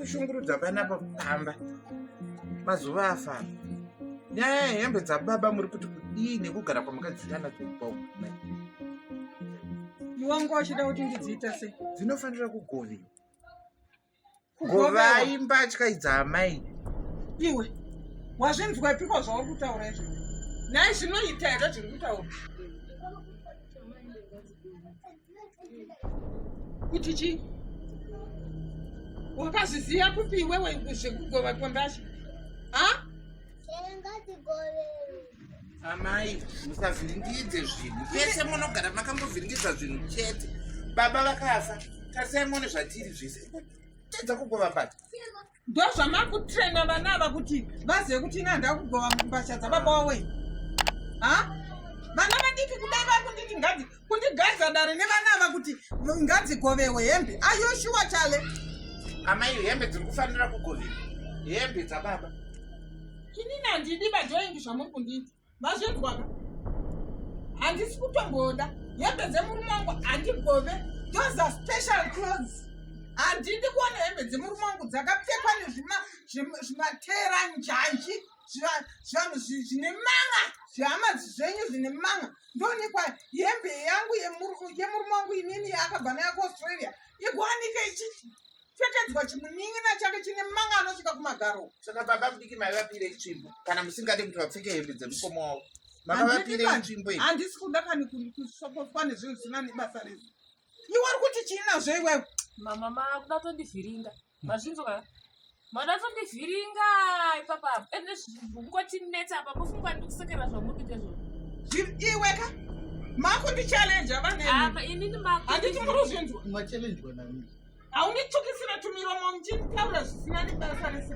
kushungurudza vana pakufamba mazuva afamba nyaya yehembe dzababa muri kuti kudii nekugara kwamakadziitana dzekubaukumai Iwangu achida kuti ndidziita sei? Dzinofanira kugoviwa. Govai mbatya idzi amai. Iwe wazvinzwa piko zvauri kutaura izvo? Nhai zvinoita here zviri kutaura? Kuti chii? Wakazviziva kupi iwewe zvekugova kwembatya? Ha? Chenga tigove. Amai, musavhiringidze zvinhu. Pese munogara makambovhiringidza zvinhu chete. Baba vakafa, tarisai muone zvatiri zvese. Tedza kugova mbata. Ndozvamakutrena vana ava kuti vazive kuti ina ndakugova mbasha dzababa wawe. Ha? Vana vadiki kudai vakunditi ngadi kundigadza dare nevana ava kuti ngadzikovewe hembe ayoshuwa chale amai hembe dziri kufanira kugovewa hembe dzababa inini handidi vajoingi zvamuri kundiita mazvinzwaka handisi kutomboda hembe dzemurume wangu handigove those are special clothes handidi kuona hembe dzemurume wangu dzakapfekwa nezvimateranjanji zvivanhu zvine manga zvihamadzi zvenyu zvine manga ndoonekwa hembe yangu yemurume wangu inini yaakabva nayo kuaustralia ikuwanike ichipfekedzwa chimunin'ina chake chine manga anosvika kumagaro saka baba mudiki maivapire itsvimbo kana musingade kuti vapfeke hembe dzemukoma wavo makavapire itsvimbo iyi handisi kuda kani kusokoswa nezvinhu zvisina nebasa rese iwe uri kuti chii nazvo iwewe mama makuda tondivhiringa mazvinzwa ka mada tondivhiringa ipapa ende zvingotinetsa apa mofungwa ndikusekera zvamuri kuita zvo iwe ka makundichallenja vanapa inini mahanditi muri kuzvinzwa machallenjwa nani haunditukisira tumiromo muchinditaura zvisina nebasa rese